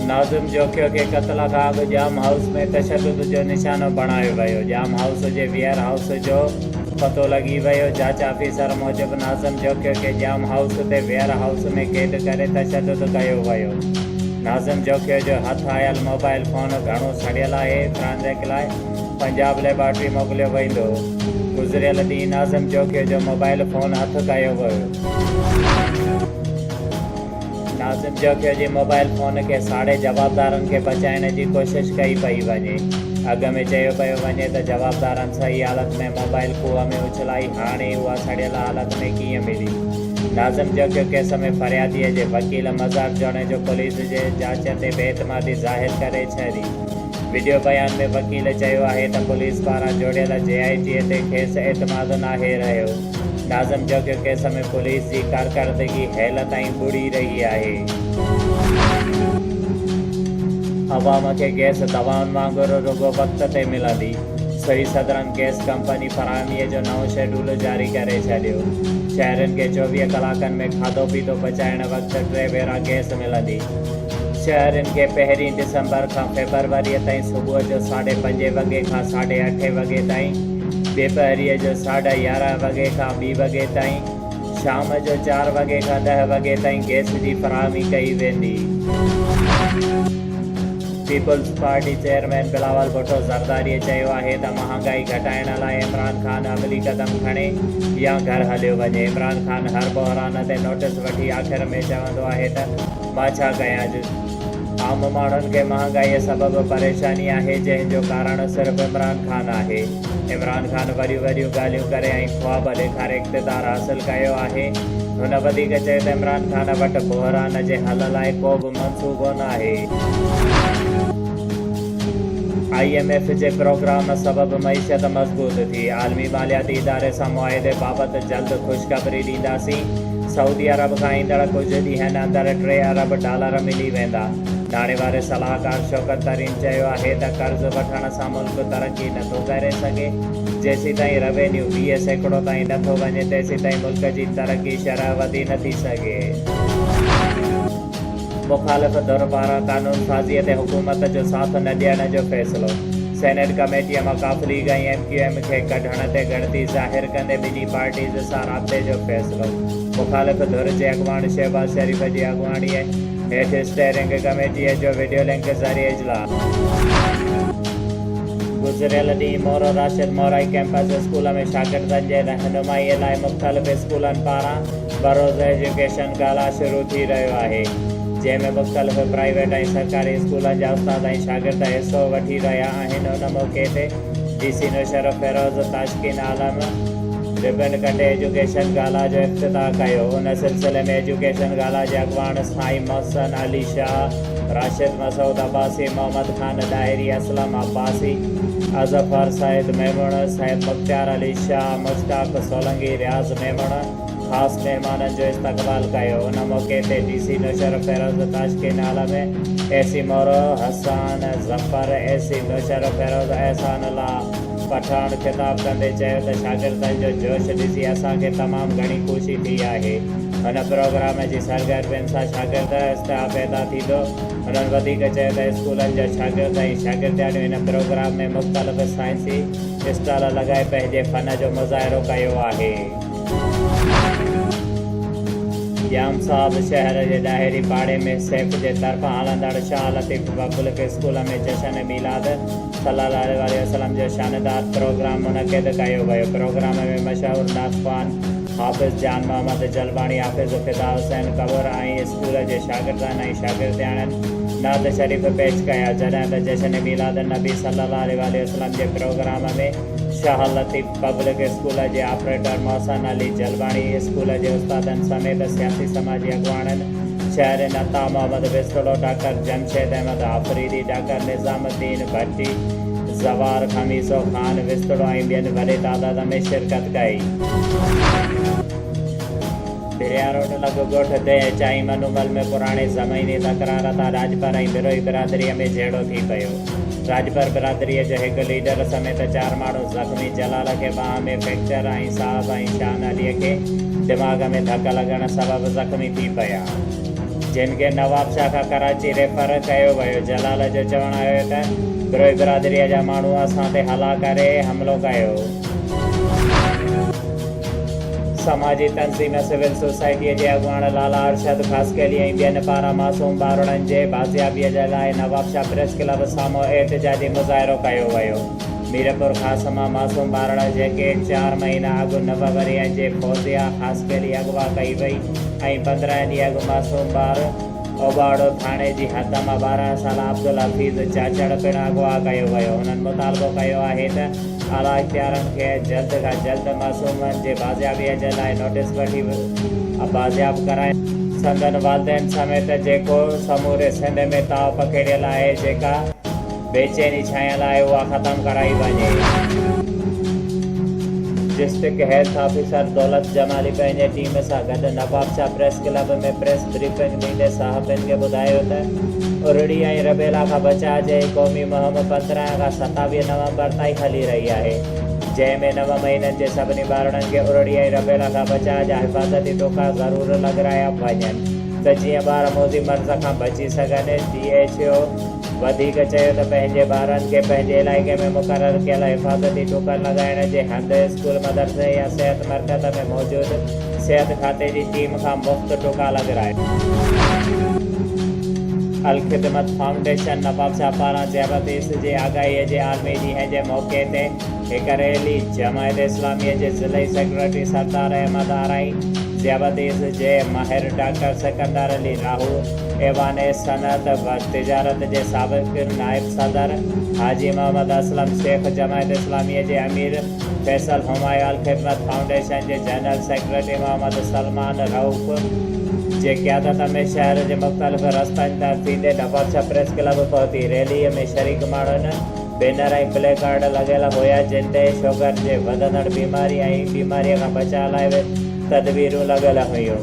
ناظم جوکيو کي قتل کان اڳ ڄام هائوس ۾ تشدد جو نشانو بڻايو ويو. ڄام هائوس جي ويئر هائوس جو پتو لڳي ويو. جاچ آفيسر موجب ناظم جوکيو کي ڄام هائوس تي ويئر هائوس ۾ قيد ڪري تشدد ڪيو ويو. ناظم جوکيو جو هٿ آيل موبائل فون گهڻو سڙيل آهي، فرانزڪ لاء پنجاب ليبارٽري موڪليو ويندو. گذريل ڏينهن ناظم جوکيو جو موبائل فون هٿ ڪيو ويو. ناظم جوکيو جي موبائل فون کي ساڙي جوابدارن کي بچائڻ جي ڪوشش ڪئي پئي وڃي. اڳ ۾ چيو پيو وڃي ته جوابدارن صحيح حالت ۾ موبائل کوهه ۾ اڇلائي هاڻي اها سڙيل حالت ۾ ڪيئن ملي. ناظم جوکيو ڪيس ۾ فريادي جي وڪيل مزار جوڻيجو پوليس جي جاچ تي بي اعتمادي ظاهر ڪري ڇڏي. وڊيو بيان ۾ وڪيل چيو آهي ته پوليس پاران جوڙيل جي آء ٽي تي کيس اعتماد ناهي رهيو. ناظم جڳ ڪيس ۾ پوليس جي ڪارڪردگي هيل تائين ٻڙي رهي آهي. عوام کي گيس دوائن وانگر رڳو وقت تي ملندي سوئي سدرن گيس ڪمپني فراهمي جو نئون شيڊول جاري ڪري ڇڏيو. شهرين کي چوويهه ڪلاڪن ۾ کاڌو پيتو پچائڻ وقت ٽي ڀيرا گيس ملندي. شهرين کي پهرين ڊسمبر کان فيبروري تائين صبح جو ساڍي پنجين وڳي کان ساڍي اٺين وڳي تائين. ٻيپهريء جو ساڍا يارهن وڳي کان ٻي وڳي تائين، شام جو چار وڳي کان ڏهه وڳي تائين گئس جي فراهمي ڪئي ويندي. Peoples Party chairman Bilawal Bhutto Zardari چيو آهي ته مهانگائي گهٽائڻ لاء عمران خان عملي قدم کڻي يا گهر هليو وڃي، عمران خان هر بحران تي نوٽيس وٺي آخر ۾ چوندو آهي ته مان ڇا ڪيان. عام ماڻهن کي مهانگائيء سبب پريشاني آهي، جنهن جو ڪارڻ صرف عمران خان آهي. عمران خان وڏيون وڏيون ڳالهيون ڪري ۽ خواب ڏيکاري اقتدار حاصل ڪيو آهي. هن وڌيڪ چيو ته عمران خان وٽ بحران جي حل لاء ڪو به منصوبو ناهي. آء ايم ايف جي پروگرام سبب معيشت مضبوط ٿي، عالمي مالياتي اداري سان معاهدي بابت جلد خوشخبري ڏينداسين. سعودي عرب کان ايندڙ ڪجهه ڏينهن اندر ٽي ارب ڊالر ملي ويندا. ناڻي واري صلاحڪار شوڪت ترين چيو آهي ته قرض وٺڻ سان ملڪ ترقي نه ٿو ڪري سگهي، جيسيتائين روينيو ويهه سيڪڙو تائين نه ٿو وڃي تيسيتائين ملڪ جي ترقي شرح وڌي نه ٿي سگهي. مخالف ڌر پاران قانون سازيء تي حڪومت جو ساٿ نه ڏيڻ جو فيصلو، سينيٽ ڪميٽيء مان ق ليگ ۽ ايم ڪيو ايم کي ڪڍڻ تي ڳڻتي ظاهر ڪندي ٻنهي پارٽيز سان رابطي جو فيصلو، مخالف ڌر جي اڳواڻ شهباز شريف جي اڳواڻيء هيٺ اسٽيئرنگ ڪميٽيء جو وڊيو لنڪ ذريعي اجلاس. گذريل ڏينهن مورو راشد مورائي ڪيمپس اسڪول ۾ شاگردن جي رهنمائيء لاء مختلف اسڪولن پاران بروز ايجوڪيشن ڪالا شروع ٿي رهيو آهي، جنهن ۾ مختلف پرائيويٽ ۽ سرڪاري اسڪولن جا استاد ۽ شاگرد حصو وٺي رهيا آهن، ان موقعي تي D C Naushahro Feroze Tashqeen Alam ribbon ڪٽي ايجوڪيشن ڪالا جو افتتاح ڪيو، ان سلسلي ۾ ايجوڪيشن ڪالا جي اڳواڻ اسٿائي محسن علي شاهه، راشد مسعود عباسي، محمد خان ڏاهري، اسلم عباسي، اظفر سيد ميمڻ، سيد مختيار علي شاهه، مشتاق سولنگي، رياض ميمڻ، خاص مهمانن جو استقبال ڪيو ان موقعي تي D C Naushahro Feroze Tashqeen Alam A C Moro Hassan Zafar A C Naushahro Feroze Ehsan Ullah Pathan خطاب ڪندي چيو ته شاگردن جو جوش ڏسي اسان کي تمام گهڻي خوشي ٿي آهي هن پروگرام جي سرگرمين سان شاگرد استحا پيدا ٿيندو هنن وڌيڪ چيو ته اسڪولن جا شاگرد ۽ شاگردياڻيون هن پروگرام ۾ مختلف سائنسي اسٽال لڳائي پنهنجي فن جو مظاهرو ڪيو آهي. ڄام صاحب شهر جي ڏاهري پاڙي ۾ سيف جي طرفان هلندڙ شاهه لطيف پبلڪ اسڪول ۾ جشن ميلاد صلي الله عليه وآله وسلم جو شاندار پروگرام منعقد ڪيو ويو پروگرام ۾ مشهور نعتخوان حافظ جان محمد جلباڻي حافظ فدا حسين ڪنور ۽ اسڪول جي شاگردن ۽ شاگردياڻين نعت شريف پيش ڪيا جڏهن ته جشن ميلاد النبي صلي الله عليه وآله وسلم جي programme ۾ Shah Latif public school جي آپريٽر محسن علي جلباڻي، اسڪول جي استادن سميت سياسي سماجي اڳواڻن، شهرين عطا محمد وسڪڙو، ڊاڪٽر جمشيد احمد آفريدي، ڊاڪٽر نظام الدين ڀٽي، زوار خميسو خان وسڪڙو ۽ ٻين وڏي تعداد ۾ شرڪت ڪئي. ڀريا روڊ لڳ ڳوٺ تي چائي منو مل ۾ پراڻي زميني تڪرار تان راڄپر ۽ بروهي برادري ۾ جهيڙو ٿي پيو. راڄپر برادري جو هڪ ليڊر سميت چار ماڻهو زخمي، جلال کي ٻانهن ۾ فيڪچر ۽ صاحب ۽ شان علي کي دماغ ۾ ڌڪ لڳڻ سبب زخمي ٿي پيا، جن کي نوابشاهه کان ڪراچي ريفر ڪيو ويو، جلال جو چوڻ آهي ته بروهي برادري جا ماڻهو اسان تي هلا ڪري حملو ڪيو. سماجي تنظيم سول سوسائٽيء جي اڳواڻ لالا ارشد خاصخيلي ۽ ٻين پاران معصوم ٻارڙن جي بازيابيء جي لاء نوابشاهه پريس ڪلب سامهون احتجاجي مظاهرو ڪيو ويو. ميرپورخاص مان معصوم ٻارڙ جيڪي چار مهينا اڳ نو ورهيه جي فوزيه خاصخيلي اغوا ڪئي وئي ۽ پندرهن ڏينهن اڳ معصوم ٻار اوباڙو ٿاڻي جي حد مان ٻارهن سالا عبدالحفيظ چاچڙ پڻ اغوا ڪيو ويو، هنن مطالبو ڪيو آهي ته اعليٰ اختيارن کي جلد کان جلد معصومن جي بازيابيء جي لاء نوٽيس وٺي بازياب ڪرائي، سندن والدين سميت جيڪو سموري سنڌ ۾ تاء پکيڙيل آهي، جيڪا. بيچيني ڇانيل آهي اها ختم ڪرائي وڃي. District health officer Daulat Jamali پنهنجي ٽيم سان گڏ Nawabshah press club ۾ press briefing ڏيندي صحافين کي ٻڌايو ته ارڙي ۽ ربيلا کان بچاء جي هي قومي مهم پندرهن کان ستاويهه نومبر تائين هلي رهي آهي جنهن ۾ نو مهينن جي سڀني ٻارڙن کي ارڙي ۽ ربيلا کان بچاء جا حفاظتي ٽوڪا ضرور لڳرايا وڃن ته جيئن ٻار موذي مرض کان بچي سگهن ڊي ايڇ او وڌيڪ چيو ته پنهنجي ٻارن کي پنهنجي علائقي ۾ مقرر ڪيل حفاظتي ٽوڪن لڳائڻ جي هنڌ اسڪول مدرسي يا صحت مرڪز ۾ موجود صحت کاتي جي ٽيم کان مفت ٽوڪا لڳرائي. الخدمت فائونڊيشن نوابشاهه پاران ذيابطيس جي آگاهي جي عالمي ڏينهن جي موقعي تي هڪ ريلي جماعت اسلامي جي ضلعي سيڪريٽري سردار احمد آرائي، ذيابطيس جي ماهر ڊاڪٽر سڪندر علي راهو، ايوان صنعت و تجارت جي سابق نائب صدر حاجي محمد اسلم شيخ، جماعت اسلامي جي امير فيصل، همايون الخدمت فائونڊيشن جي جنرل سيڪريٽري محمد سلمان رئوف جي قيادت ۾ شهر جي مختلف رستن تان ٿيندي ڍڪوٽ ڇپريس ڪلب پهتي. ريلي ۾ شريڪ ماڻهن. بينر ۽ پلي ڪارڊ لڳل هيا جن تي شوگر جي وڌندڙ بيماري ۽ بيماري کان بچاء لاء تدبيرون لڳل هيون.